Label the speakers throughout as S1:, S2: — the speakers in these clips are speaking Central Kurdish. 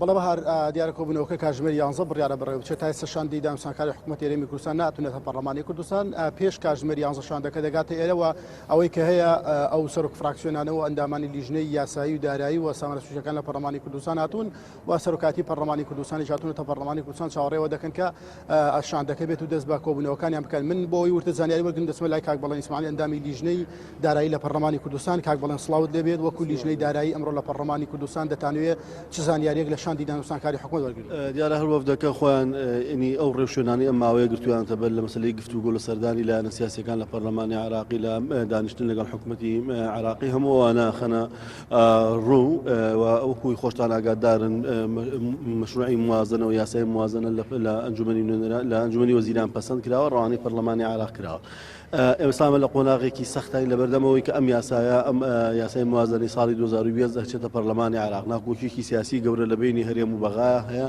S1: بەڵێ بەهار دیارە کۆبوونەوەکە کاژمێر یانزە بڕیارە بڕێوچێ تا ئێستا شاندی دامسانکاری حکوومەت ئێرەمی کوردستان ناتونێتە پەرلەمانی کوردستان پێش کاژمێر یانزە شاندەکە دەگاتە ئێرەوە ئەوەی کە هەیە ئەو سەرۆک فراکسیۆنانەوە ئەندامانی لیژنەی یاسایی و دارایی و سامانە سوژەکان لە پەرلەمانی کوردستان هاتوون و سەرۆکایەتی پەرلەمانی کوردستانیش هاتوونەتە پەرلەمانی کوردستان چاوەڕێ ئەوە دەکەن کە شاندەکە بێت و دەست بە کۆبوونەوەکانیان بکەن من بۆی ورتر زانیاری وەرگرم دەچمە لای کاک بەڵێن ئیسماعیل ئەندامی لیژنەی دارایی لە پەرلەمانی کوردستان کاک بەڵێن سڵاوت لێ بێت وەکو لیژنەی دارایی ئەمڕۆ لە پەرلەمانی کوردستان دەتانوێت چ زانیاریەک لە شاندی دانوستانکاری حکومەت وەرگرن دیارە هەر وەفدەکە
S2: خۆیان ئینی ئەو ڕێوشوێنانی ئەم ماوەیە گرتویانتە بەر لە مەسلەی گفتوگۆ لە سەردانی لایەنە سیاسەکان لە پەرلەمانی عراقی لە دانیشتن لەگەڵ حکوومەتی عراقی هەمووانە خەنە ڕوو و وەکوی خۆشتان ئاگادارن مشروعی موازنە و یاسای موازنە لە ئەنجومی نوێنەرە لە ئەنجومی وەزیران پەسەند کراوە ڕوانەی پەرلەمانی عراق کراوە ئێمەسامە لە قۆناغێکی سەختانی لەبەردەمەوەی کە ئەم یاسایە ئەم یاسای موازنەی ساڵی 2020 دەچێتە پەرلەمانی عراق ناکۆکیێکی سیاسی گەورە لە بینی هەرێم و بەغا هەیە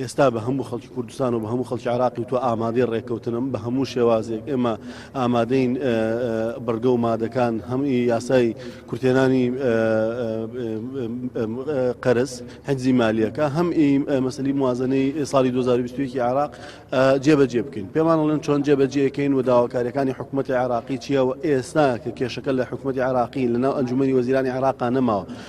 S2: ئێستا بە هەموو خەڵکی کوردستان و بە هەموو خەڵکی عراقی تۆ ئامادەی ڕێککەوتنم بە هەموو شێوازێک ئێمە ئامادەین بڕگە و مادەکان هەم یاسای کورتێنانی قەرز حەجزی مالیەکە هەم مەسلی موازنەی ساڵی 2020 عراق جێبەجێ بکەین پێمانڵێن چۆن جێبەجێکەین و داواکاریەکانی حکوومەتتی عراقی چیە و ئێستا کە کێشەکە لە حکوومەتتی عراقی لەناو ئەنجومی وەزیرانی عراقا نەماوە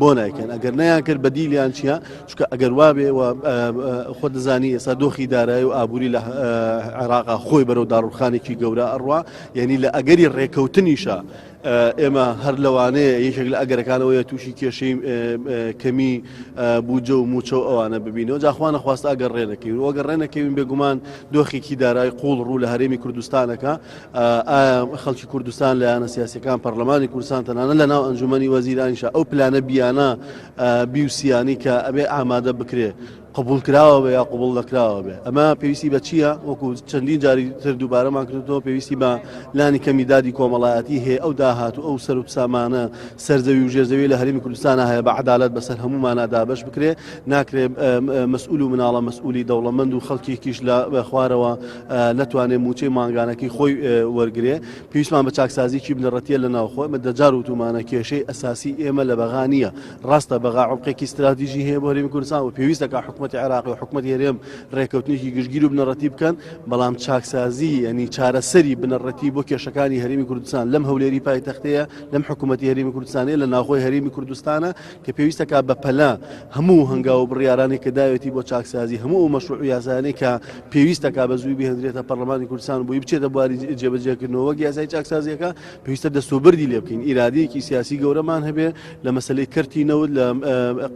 S2: بۆ نایکەن ئەگەر نیان کرد بە دیلیان چیە چکە ئەگەر وابێ خۆ دەزانی ئێستا دۆخی دارای و ئابووری لە عێراقا خۆی بەرەو داڕوخانێکی گەورە ئەڕوا یعنی لە ئەگەری ڕێکەوتنیشە ئێمە هەر لەوانەیە یەکێک لە ئەگەرەکانەوەیە تووشی کێشەی کەمی بوجە و موچە و ئەوانە ببینەوە جاخواانە خواست ئەگەر ڕێنەکەین وەگە ڕێنەکەوین بێگومان دۆخێکی دارای قوڵ ڕوو لە هەرێمی کوردستانەکە ئایا خەڵکی کوردستان لە یانە سیاسەکان پەرلەمانی کوردستان تەنانە لە ناو ئەنجومی وەزیرانیشە ئەو پلانە بیانە بیوسیانی کە ئەبێ ئامادە بکرێ قبول کراوە بە یا قوبڵ دەکراوە بێ ئەمە پێویستی بە چییە وەکو چەندین جاری تر دووبارەمان کردەوە پێویستی بە لانی کەمی دادی کۆمەڵایەتی هەیە ئەو داهات و ئەو سەر و سامانە سەرزەوی و ژێزەوی لە هەرمی کوردستانە هەیە بە عدالت بەسەر هەمومانە دابش بکرێ ناکرێ مەسئول و مناڵە مەسئولی دەوڵەمەند و خەڵکیکیش لە خوارەوە نەتوانێ مووچەی مانگانەکەی خۆی وەرگێ پێویستمان بە چاکسازیی بنەڕەتە لە ناوخۆ ئمە دەجار وتومانە کێشەی ئەساسی ئێمە لە بەغا نییە ڕاستە بەغا عڵقێکی استراتیژی هەیە بۆریم کوردستان و پێویستەکە حکوومەت عێراق و حکوومەت هێرێم ڕێککەوتنێکی گشتگیر و بنەڕەتی بکەن بەڵام چاکسازی ینی چارەسەری بنەڕەتی بۆ کێشەکانی هەرمی کوردستان لەم هەولێری پایتەختەیە لەم حکوومەت هەرمی کوردستانی لە ناوخۆی هەرمی کوردستانە کە پێویستەکا بە پەلە هەموو هەنگاو و بڕیارانەی کە داوێتی بۆ چاکسازی هەموو ئەو مەشروع و یاسایانەی کە پێویستەکا بە زووی بهێندرێتە پەڕڵەمانی کوردستان و بۆی بچێتە بواری جێبەجێکردنەوە وەک یاسای چاکسازییەکە پێویستە دەستوبردی لێ بکەین ئیرادەیەکی سیاسی گەورەمان هەبێ لە مەسلەی کەرتی نەوت لە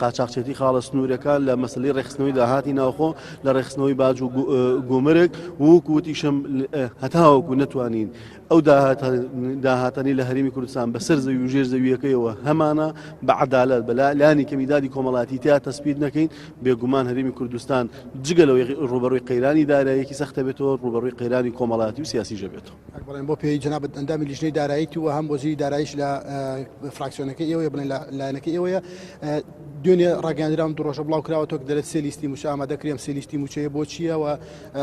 S2: قاچاقچێتی خاڵە سنوورەکە لە مەسلەی ڕێخستنەوەی داهاتی ناوخۆ لە ڕێخستنەوەی باج و گومرگ وەکوتیشم هەتاوەکو نەتوانین ئەو داهاتانەی لە هەرێمی کوردستان بەسەر زەوی و ژێر زەویەکەیەوە هەمانە بە عدالت بە لانی کەمی دادی کۆمەڵاتی تیا تەسپیت نەکەین بێگومان هەرێمی کوردستان جگە لەوەی ڕوبەڕووی قەیرانی دارایەکی سەختە بێتەوە ڕوبەڕووی قەیرانی کۆمەڵاتی و سیاسی ژەبێتەوە بڵێن بۆ پێی جنابەت
S1: ئەندامی لیژنەی داراییت و هەم وەزیری دارایش لە فراکسیۆنەکە ئێوەیە بڵێن لە لایەنەکە ئێوەیە دوێنێ ڕاگەاندرام دو ڕۆژە بڵاو کراوە تۆک دەرێت سێلیستی موچە ئامادەکرێم سێلیستی موچەیە بۆ چییەوە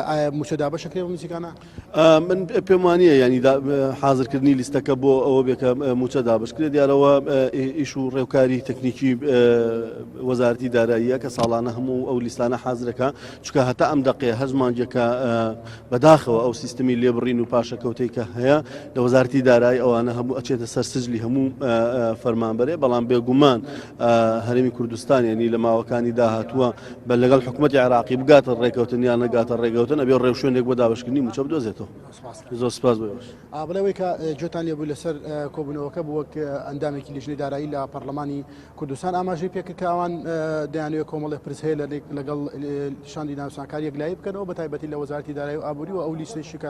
S1: ئایا موچەدا بەشەکرێ بە موزیکانە من
S2: پێم وانە ینی حازرکردنی لیستەکە بۆ ئەوە بێکە موچە دابشکرێت دیارەوە ئیش و ڕێوکاری تەکنیکی وەزارتی داراییە کە ساڵانە هەموو ئەو لیستانە حازرەکە چکە هەتا ئەم دقێ هەزمانجەکە بەداخەوە ئەو سیستمی لێبڕین و پاشەکەوتەی کە هەیە لە وەزارتی دارایی ئەوانە هەموو ئەچێتە سەر سجلی هەموو فەرمانبەرێ بەڵام بێگومان هەرێمی کوردستان یعنی لە ماوەکانی داهاتووە بە لەگەڵ حکوومەتی عراقی بگاتە ڕێکەوتن یان نەگاتە ڕێگەوتن ئەبێ ڕێوشوێنێک بۆ دابشکردنی موچە بدۆزێتەوە زۆر سپاس بۆش ئابلەوەی کە
S1: جوتان لێبوو لەسەر کۆبوونەوەکە بووە ئەندامێکی لیژنەی دارایی لە پەرلەمانی کوردستان ئاماژەی پێکردکەوان دەیانوێت کۆمەڵی پرس هەیە لە لەگەڵ شاندی ناوسانکار یەکلایی بکەنەوە بە تایبەتی لە وەزارتی دارایی و ئابووری و ئەو لیستێکی کە